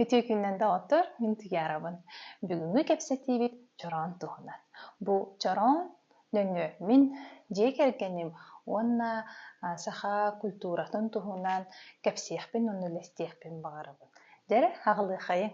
Үтүө күнүнэн доҕоттор, мин Туйаарабын. Бүгүҥҥү кэпсэтиибит чороон туһунан. Бу чороон нөҥүө мин дьиэ кэргэним уонна саха культуратын туһунан кэпсиэхпин уонна үлэлэстиэхпин баҕарабын. Дьэ, аҕылыахайыҥ!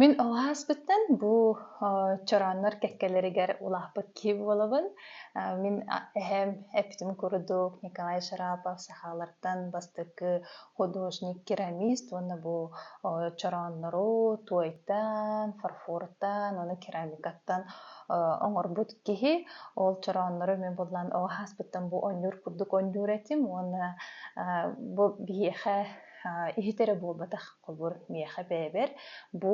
Мин ол ааспыттан бу чорооннор кэккэлэригэр улааппыт киһи буолабын. Мин эһэм эппитим курдук Николай Шарапов сахалартан бастакы художник, керамист уонна бу чорооннору туойтан, фарфортан, уонна керамикаттан оҥорбут киһи. Ол чорооннору эмиэ буллан ол ааспыттан бу оонньуур курдук оонньуур этим уонна бу биһиэхэ иһит эрэ буолбатах холбуур миэхэ бэйэбэр бу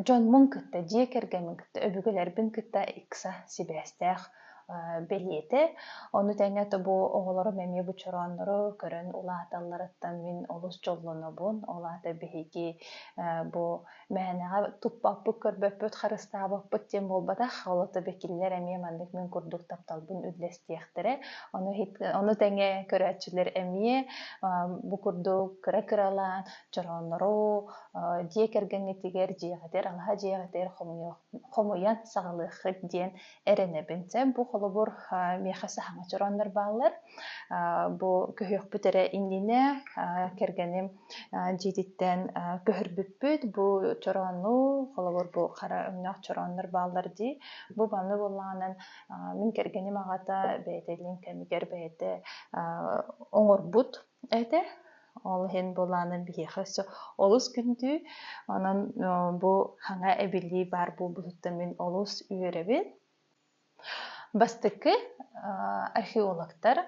Дьоммун кытта, дьиэ кэргэммин кытта, өбүгэлэрбин кытта ыкса сибээстээх бэлиэтэ. Ону тэҥэ бу оҕолорум эмиэ бу чорооннору көрөн улааталларыттан мин олус дьоллонобун. Ол аата биһиги бу мээнэҕэ туппаппыт, көрбөппүт, харыстаабаппыт диэн буолбатах. Ол аата бу кинилэр эмиэ маннык мин курдук тапталбын үллэстиэхтэрэ. Ону ону тэҥэ көрөөччүлэр эмиэ бу курдук кыра-кыралаан Чорооннору дьиэ кэргэҥҥитигэр дьиэҕитигэр алаһа дьиэҕитигэр хомуйан саҕалыаххыт диэн эрэнэбин. Дьэ, бу холобур миэхэ саһаҥа чорооннор бааллар. Бу көһүөхпүт эрэ иннинэ кэргэним дьиэтиттэн көһөрбүппүт. Бу чороонну, холобур, бу хара өҥнөөх чорооннор бааллар дии. Бу манны буоллаҕынан мин кэргэним аҕата бэйэтэ илин кэмигэр бэйэтэ оҥорбут Этэ. Ол иһин былаанын биһиэхэ өссө олус күндүү. Онон бу хаҥа эбиллии баар буолбутуттан мин олус үөрэбин. Бастакы археологтар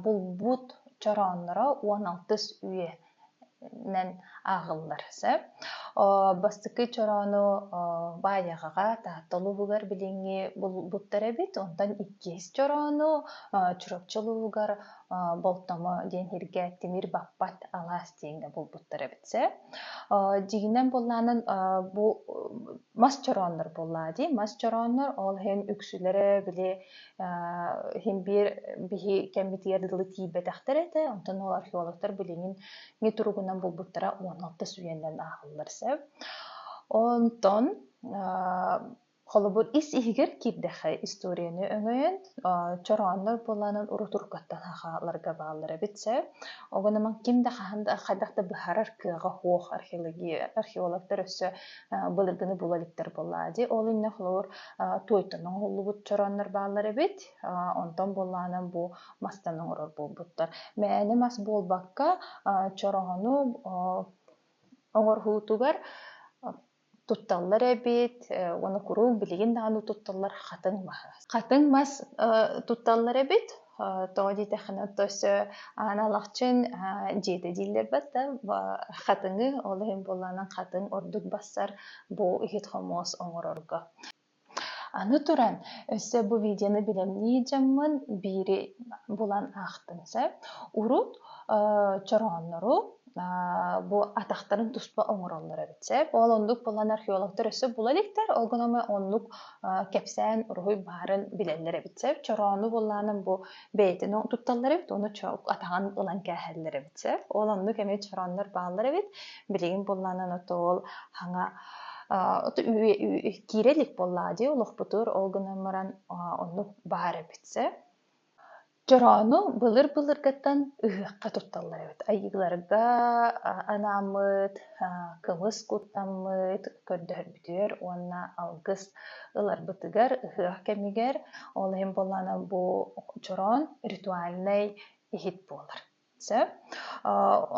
булбут чороонноро уон алтыс үйэнэн ааҕыллар сөп. Бастакы чороону Баайаҕаҕа Таатта улууһугар билиҥҥи булбуттар эбит. Онтон иккис чороону Чурапчы улууһугар Болтомо диэн сиргэ тимир баппат алаас диэҥҥэ булбуттар эбит сэ. Дьигинэн буллаанын бу мас чорооннор буллаа дии. Мас чорооннор ол иһин үксүлэрэ били иһин биир биһи кэммитигэр дылы тиийбэтэхтэр этэ. Онтон ол археологтар билиҥин не туругунан булбуттара уон алтыс үйэннэн ааҕыллар сэ. Онтон Холобур, ис иһигэр киирдэххэ историяны өҥөйөн, чорооннор буолаанын урутургаттан хааларга бааллар эбит сэ. Оҕо наман ким да хаһан да хайдах да быһарар кыаҕа-суох археология археологтар өссө былыргыны була иликтэр буоллаа дии. Ол иннэ холобур туойтан оҥоһуллубут чорооннор бааллар эбит. Онтон буолаанан бу мастан оҥорор буолбуттар. Мээнэ мас буолбакка чороону оҥорһуутугар тутталлар эбит уонна куруук билигин даҕаны тутталлар хатыҥ мас хатыҥ мас тутталлар эбит тоҕо диэтэххинэ тос аан алахчын дьиэтэ дииллэр да хатыҥы ол иһин буоллаҕынан хатыҥ ордук бассар бу иһит хомуос оҥорорго Аны туран, өссө бу видеоны билимнии дьаҥмын биири булан аахтым сөп. Урут чорооннору бу атахтарын туспа оҥороллор эбит сөп. Ол оннук буолан археологтар өссө була иликтэр. Ол гынан оннук кэпсээн уруһуй баарын билэллэр эбит сөп. Чороону буллаанан бу бэйэтин тутталлар эбит оны чоок атаҕын ылан кээһэллэр эбит сэ ол оннук эмит чороннор бааллар эбит билигин булланан отол хаҥа киирэ илик буоллаа дии олохпутур ол гынан баран оннук баар эбит сэ чороону былыр былыргаттан ыһыахха тутталлар эбит айыыларга анааммыт кымыс куттаммыт көрдөһөрбүт көрдүүр уонна алгыс ыларбытыгар ыһыах кэмигэр ол иһин буоллаана бу чороон ритуальнай иһит буолар сөп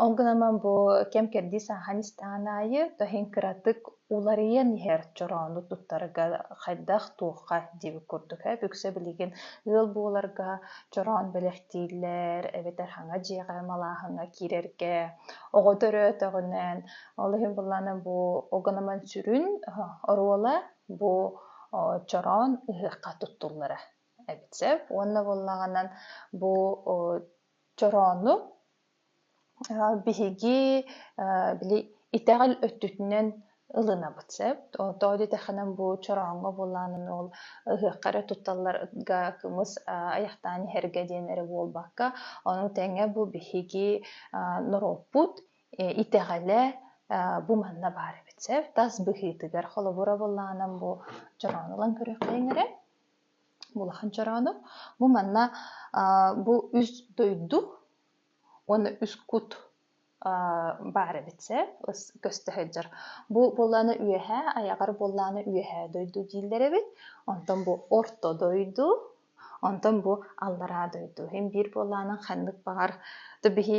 ол гынан бу кэм кэрдии саахан истэҕин аайы тоһин кыратык уларыйан иһэр чороону туттарга хайдах туохха диэбит курдук ээ үксэ билигин ыал буоларга чороон бэлэхтииллэр эбэтэр хаҥа дьиэҕэ малааһыҥҥа киирэргэ оҕо төрөөтөҕүнэн Ол иһин былаана бу оганаман сүрүн оруола бу чороон ыһыахха туттуллара эбит сөп. Уонна буоллаҕынан бу чороону биһиги били итэҕэл өттүтүнэн ылынабыт сөп. Тоо дитэхэнэн бу чорооҥҥо буолаанын ол ыһыахха эрэ тутталларга кымыс айахтаан иһэргэ диэн эрэ буолбакка, ону тэҥэ бу биһиги норуоппут итэҕэлэ бу манна баар эбит сөп тас быһыытыгар холобур абыллаанам бу чороону ылан көрүөххэйиҥ эрэ улахан чороону бу манна бу үс дойду уонна үс кут баар эбит сөп көстө сылдьар бу буоллааны үөһэ айаҕар буоллааны үөһэ дойду дииллэр эбит онтон бу орто дойду Онтон бу аллараа дойду иһин биир буоллаҕынан ханнык баҕар да биһи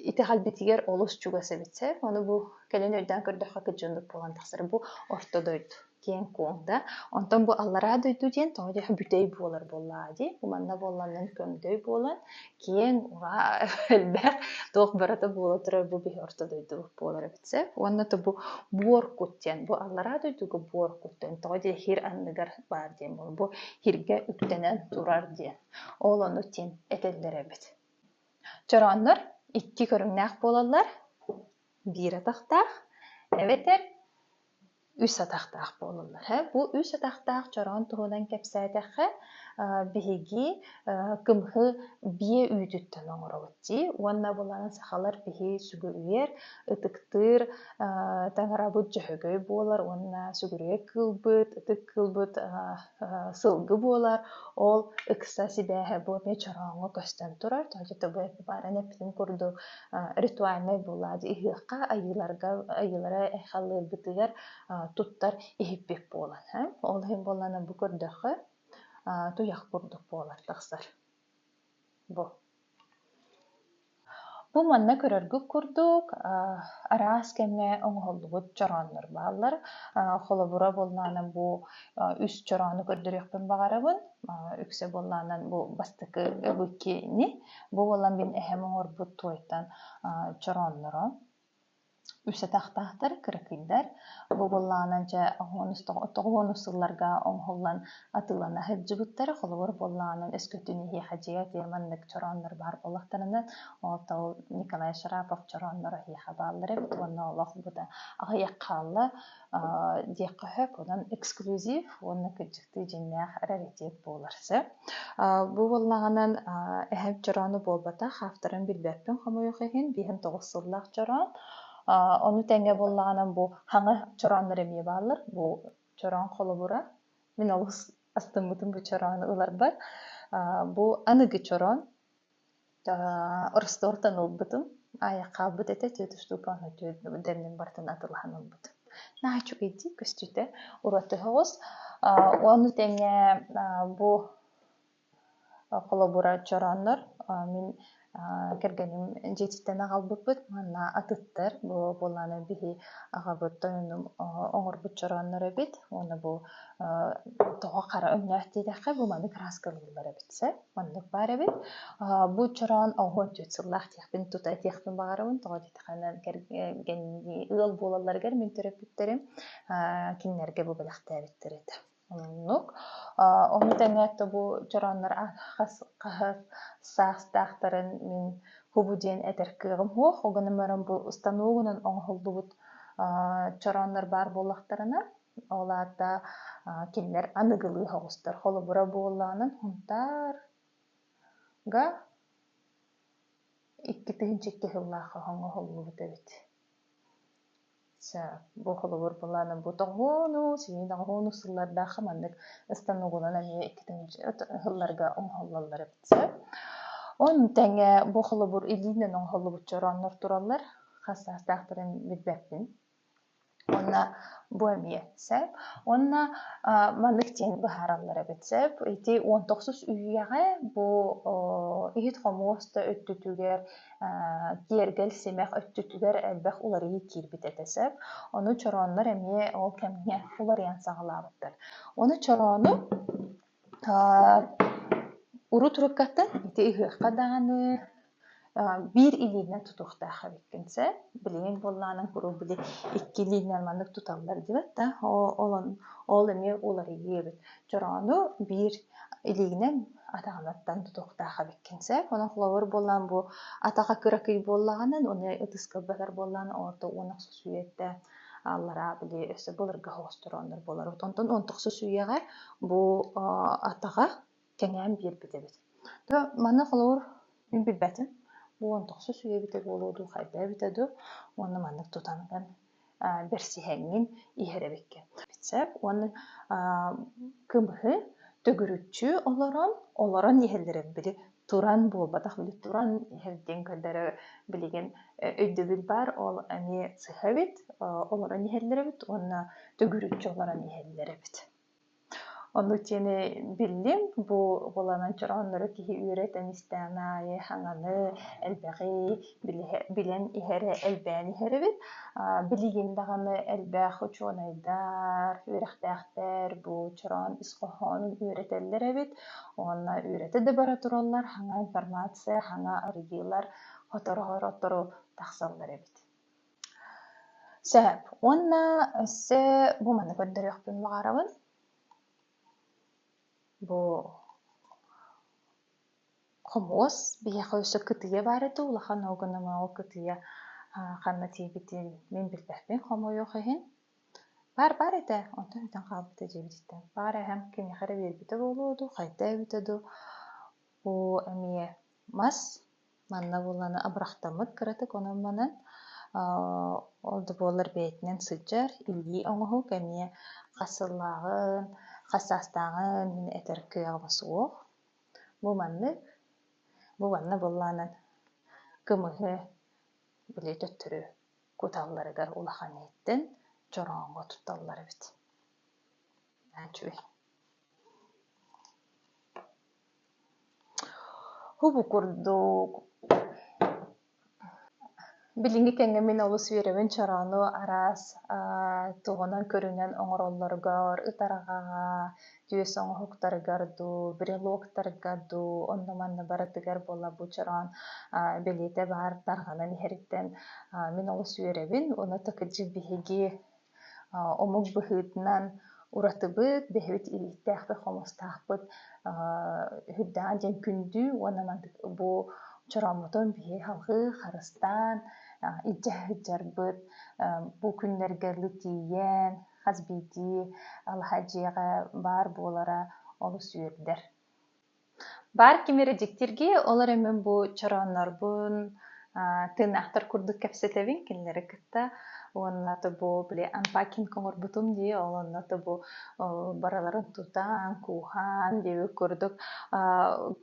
итэҕэлбитигэр олус чугас эбит сэр ону бу кэлин өйдөөн көрдөххө кыдьыыннык буолан тахсара бу орто дойду киэҥ куоҥ да онтон бу аллараа дойду диэн тоҕо диэх бүтэй буолар буоллаҕа дии манна буолланнан көмдөй буолан киэҥ, ураа, элбэх, туох барыта буола турар бу биһи орто дойдубут буолар эбит сэ. Уонна то бу буор кут диэн, бу аллараа дойдуга буор кут диэн, тоҕо диэ хир анныгар баар диэн буол, бу хиргэ үктэнэн турар диэн. Ол ону тин этэллэр эбит. Чорооннор икки көрүҥнээх буолаллар, биир атахтаах эбэтэр үс атахтаах буолаллар. Бу үс атахтаах чороон туһунан кэпсээтэххэ, биһиги кымһы биэ үүтүттэн оҥоробут дии уонна булан сахалар биһи сүгүрүйэр, ытыктыыр, таҥарабыт дьөһөгөй буолар уонна сүгүрүйэ кыылбыт, ытык кыылбыт сылгы буолар. Ол ыкса сибээһэ бу эмиэ чорооҥҥо көстөн турар. Дьэ, бу бааран эппитин курдук ритуальнай буолла дии ыһыахха айыыларга айыылара айхаллыыргытыгар туттар иһиппит буолан ол иһин буоллана бу көрдөххө туйах курдук буолар тахсар бу бу манна көрөргүт курдук араас кэмҥэ оҥоһуллубут чорооннор бааллар холобура буоллаана бу үс чороону көрдөрүөхпүн баҕарабын үксэ буоллаанан бу бастакы быкини Бу буолан мин эһэм оҥорбут туойтан чороонноро үс атахтаахтар, кыракыйдар. Бу буоллаҕынан дьэ тоҕуонус сылларга оҥоһуллан атыылана сылдьыбыттар. Холобур буоллаҕынан өскөтүн эһиэхэ дьиэ отуйар маннык чорооннор баар буолахтарынан ол Николай Шарапов чорооннор эһиэхэ бааллар эбит уонна олох бу да аҕыйах хаалла. диэххэ сөп. Онон эксклюзив уонна кырдьыктыы дьиҥнээх раритет буолар сөп. Бу буоллаҕынан эһэм чороону буолбатах, авторын билбэппин хомойуох иһин, биһиэм тоҕус сыллаах чороон. Ону тэҥэ буоллаҕынан бу хаҥа чорооннор эмиэ бааллар. Бу чороон холобура. Мин олус астыммытым бу чороону ыларбар. Бу аныгы чороон Ростовтан ылбытым. Аайа хаалбыт этэ, тетя Степаны дэбинэн барытын атылаһан ылбытым. Нааччыгый дии көстүүтэ. Урут тоһоҕос. Ону тэҥэ бу холобура чорооннор мин кэргэним дьиэтиттэн аҕалбыппыт. Манна атыттар бу буоллаҕына биһи аҕабыт тойонум оҥорбут чорооннор эбит. Уонна бу тоҕо хара өҥнөөх диэтэххэ бу маннык ырааска ылыллар эбит сэ. Оннук баар эбит. Бу чороон оҕо түөрт сыллаах диэхпин тута этиэхпин баҕарабын. Тоҕо диэтэххинэ кэргэннии ыал буолалларыгар мин төрөппүттэрим кинилэргэ бу бэлэхтээбиттэр этэ. Оннук. Ону тэҥэ бу чорооннор хас хас саастаахтарын мин кубу диэн этэр кыаҕым суох. Ол гынан баран бу станогунан оҥоһуллубут чорооннор баар буоллахтарына, Ол аата кинилэр аныгылыы оҕустар холобура буоллаҕынан Хунтаарга икки тыһыынча икки сыллаахха оҥоһуллубут эбит. бу холобур былаанын бу тоҕуону, синий тоҕуону сыллардаахха маннык ыстан угулан эмиэ икки тыһыынча сылларга оҥоһуллаллар эбит сөп. Оны тэҥэ бу холобур илиинэн оҥоһуллубут чорооннор тураллар. Хас саастаахтарын билбэппин. уонна бу эмиэ сөп уонна маннык диэн быһаараллар эбит сөп ити уон тохсус үйэҕэ бу иһит-хомуос да өттүтүгэр киэргэл симэх өттүтүгэр элбэх уларыйыы киирбит этэ сөп ону чорооннор эмиэ ол кэмҥэ уларыйан саҕалаабыттар ону чороону Урут урукката ити ыһыахха даҕаны биир илиинэн тутуохтаах эбиккин сэ. Билигин буоллаҕына куруук били икки илиинэн маннык туталлар диэбэт да ол эмиэ уларыйыыбыт. Чороону биир илиигинэн атаҕынан тутуохтаах эбиккин сэ. Онон холобур буоллаҕына бу атаҕа кыракый буоллаҕына аны ытыска ылбатар буоллаҕына уонна охсус үйэтэ аллараа били өссө былыргы хостоорооннор буолар онтон он тохсус үйэҕэ бу атаҕа кэҥээн биэрбит эбит то манна холобур мин билбэтим бу он тохсус үйэ эбитэ буолуо дуу хайда эбитэ дуу уонна маннык тутаныгын бэрсиһэҥҥин иһэр эбиккин сөп уонна кымыһы төгүрүччү олорон олорон иһэллэрин били туран буолбатах били туран иһэр диэн көрдөрө билигин өйдөбүл баар ол эмиэ сыһа эбит олорон иһэллэр эбит уонна төгүрүччү олорон иһэллэр эбит ону диэни биллим бу буоланан чорооннору киһи үөрэтэн истээн аайы хаҥаны элбэҕи билэн иһэрэ элбээн иһэр эбит. Билигин даҕаны элбэх учуонайдар, үөрэхтээхтэр бу чороон ис хоһоонун үөрэтэллэр эбит. Уонна үөрэтэ да бара тураллар, саҥа информация, саҥа арыйыылар сотору-сотору тахсаллар эбит. Сөп. Уонна өссө бу маны көрдөрүөхпүн баҕарабын. Бу Хомуос биһиэхэ өссө кытыйа баар этэ улахан ууга номоҕо кытыйа ханна тиийбитин мин билбэппин хомойуох иһин баар баар этэ онтон бүтэн хаалбыта дьиэбититтэн баар эһэм кимиэхэ эрэ биэрбитэ буолуо дуу хайдээбитэ дуу оо эмиэ мас манна буолланы абырахтаммыт кыратык онон манан ол да буоллар бэйэтинэн сылдьар илии оҥоһук эмиэ хас сыллааҕын хас саастааҕын мин этэр кыаҕыма суох Бу маннык, бу манна былаанан кымыһы, били төттөрү куталларыгар улахан иһиттэн чорооҥҥо тутталлар эбит. Үчүгэй. Убу курдук Билиҥҥи кэмҥэ мин олус үөрэбин чороону араас туһунан-көрүнэн оҥороллоругар, ытарҕаҕа, түөс оҥоһуктарыгар дуу, брелоктарга дуу, онно-манна барытыгар буолла бу чороон бэлиэтэ баар тарҕанан иһэриттэн мин олус үөрэбин. Уну так дьэ биһиги Омук быһыытынан уратыбыт, бэһэбит илииктээхпит, хомустаахпыт үрдэҕин диэн күндүү уонна бу чорооммутун биһиги салгыы харыстаан илдьэ сылдьарбыт бу күннэргэ ылы тиийэн хас биирдии алаһа дьиэҕэ баар буолара олус үөрдэр. Баар ким эрэ дьиктиргии, ол эрэ мин бу чорооннорбун, тыыннаахтар курдук кэпсэтэбин, кинилэри кытта уонна тобу били анпакинг оҥорбутум дии, ол онно тобу барыларын тутан, кууһан диэбит курдук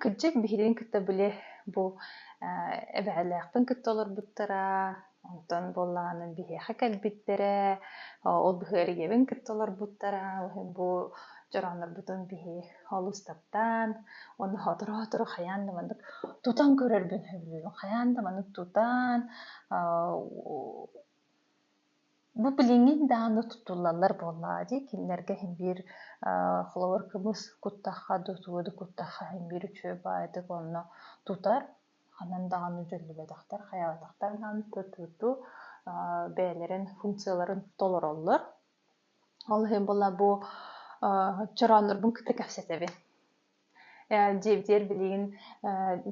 кырдьык биһигин кытта били бу эбэһэлээхпин кытта олорбуттара Онтон буоллаҕына биһиэхэ кэлбиттэрэ, ол быһыы эрийэбин кытта олорбуттара. Бу дьорооннорбутун биһи олус таптаан, уонна сотору-сотору хайаан да маннык тутан көрөрбүн сөбүлүүбүн. Хайаан да маннык тутан, бу билиҥҥин даҕаны тутуллаллар буоллаҕа дии. Кинилэргэ иһин биир холобур кымыс куттахха, дутуоду куттахха иһин биир үчүгэй баайдык онно тутар. ханан даҕаны дьөллүбэтэхтэр, хайаатахтар даҕаны тутуту бэйэлэрин функцияларын толороллор. Ол иһин була бу чорооннорбун кытта кэпсэтэбин. Дьиэбитигэр билигин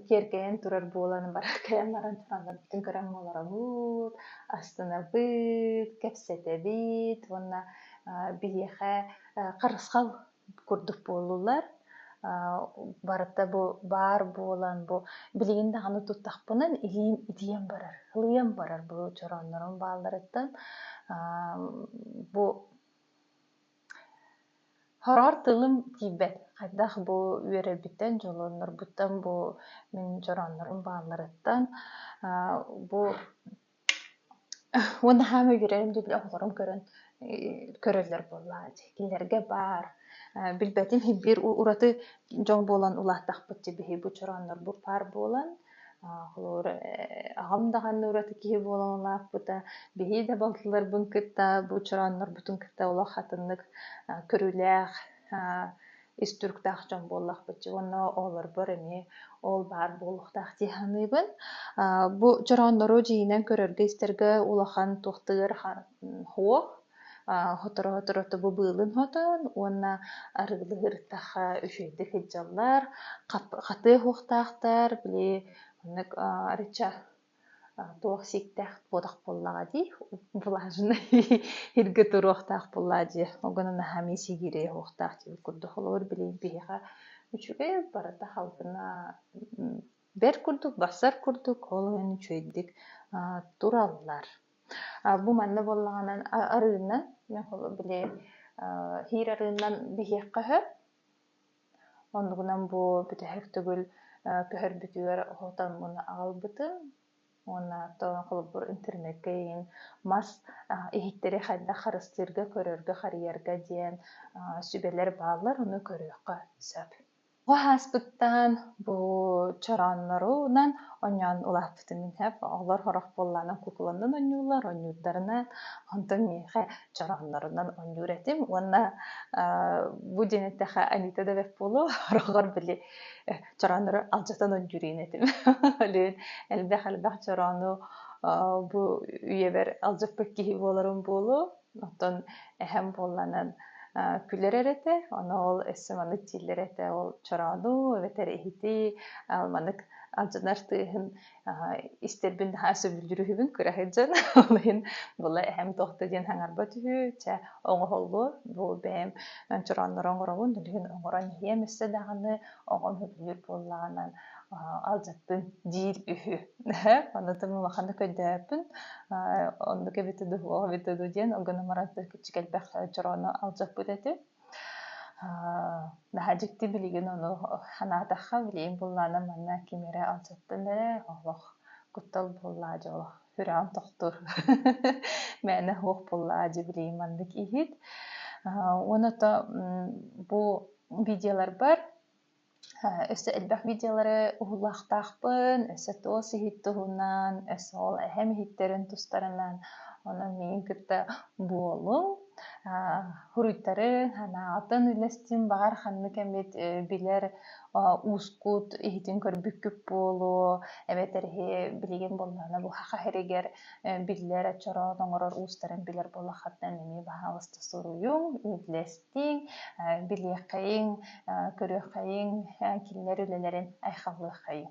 киэркэйэн турар буолан бар кэлэн баран чорооннорбутун көрөн молоробут, астынабыт, кэпсэтэбит уонна биһиэхэ харысхал курдук буоллулар барыта бу баар буолан бу билигин даҕаны туттахпынан илиим итийэн барар ылыйан барар бу чорооннорум баалларыттан бу хороҕор тылым тиийбэт хайдах бу үөрэрбиттэн дьоллоннорбуттан бу мин чорооннорум баалларыттан бу Уонна хаама үөрэрим диэбитэ оҕолорум көрөн көрөллөр буоллаҕа дии. Кинилэргэ баар билбэтим иһин биир ураты дьон буолан улааттахпыт дии биһиги бу чорооннорбут паар буолан холобур аҕам даҕаны ураты киһи буолан улааппыта биһиги да балтыларбын кытта бу чорооннорбутун кытта олох атыннык көрүүлээх ис туруктаах дьон буоллахпытча уонна оҕолорбор эмиэ ол баар буолуохтаах дии саныыбын. Бу чорооннору дьиинэн көрөргө-истэргэ улахан туохтыыр хоох, хоторо-хоторо тобу быылын хотон уонна арыылы ырыттахха үчүгэйдик ыдьаллар, хатыа оһуохтаахтар, били оннук арычча туох сиктээх буотах буоллаҕа дии влажный иргэ туруохтаах буоллаа дии ол гынан наһаа миис игирэ иһуохтаах диир курдук холобур билигин биһиэхэ үчүгэй барыта халыҥа бэрт курдук барсар курдук ол иһин үчүгэйдик тураллар бу манна буоллаҕына арыынан били иһир арыынан биһиэххэ сөп Оннугунан бу бүтэһик төгүл көһөрбүтүгэр оһотон уонна аҕалбытым уонна тоон холобур интернеккэ иһин мас иһиттэри хайдах харыстыырга көрөргө харыйарга диэн сүбэлэр бааллар ону көрүөххэ сөп бу ааспыттан бу чорооннорунан оонньоон улааттыбыт Витамин F оҕолор сорох буоллаанан кукуланнан оонньуулар, оонньуурдарынан, онтон миэхэ чорооннорунан оонньуур этим уонна бу диэн эттэхэ Анита Девев буолуо, сорохор били чорооннору алдьатан оонньууриин этим. Олүн элбэх-элбэх чороону бу үйэбэр алдьаппыт киһи буоларым буолуо. Оттон эһэм буолланан күлэр эрэтэ, ону ол өссө маннык дииллэр этэ, ол чороону эбэтэр иһити маннык алдьанар тыаһын истэрбин наһаа сөбүлдүрүһүбүн кыраһыт дьон ол иһин була эһэм туох да диэн хаҥарбат үһү чэ оҥоһуллуо бу бэйэм чорооннору оҥоробун ол иһин оҥорон иһиэм өссө даҕаны оҕом сөбүлүүр буоллаҕынан алдьаппын диир үһү. Оннутун улахан да көрдөөппүн. Оннук эбитэ дуу, ол эбитэ дуу диэн гынан баран кичик элбэх чороону алдьаппыт этим. Наһаа дьикти билигин ону санаатахха билигин буллаанам манна ким эрэ алдьаппын эрэ олох куттал буоллаа дьэ олох сүрэҕим тохтуур мээнэ суох буллаа дьэ билигин маннык иһит. Уонна бу видеоларбар Өссө элбэх видеолары уһуллаахтаахпын, өссө туос иһит туһунан, өссө ол эһэм иһиттэрин тустарынан, онон миигин кытта буолуҥ. Суруйтарыҥ, санааҕытын үллэстиҥ, баҕар ханнык эмит билэр уускут иһитин көрбүккүт буолуо, эбэтэр иһи билигин буоллаҕына бу саха сиригэр биллэр, чороот оҥорор уустарын билэр буоллаххытына эмиэ баһаалыста суруйуҥ, үллэстиҥ. истиҥ, билиэххэйиҥ, көрүөххэйиҥ, кинилэр үлэлэрин айхаллыаххэйиҥ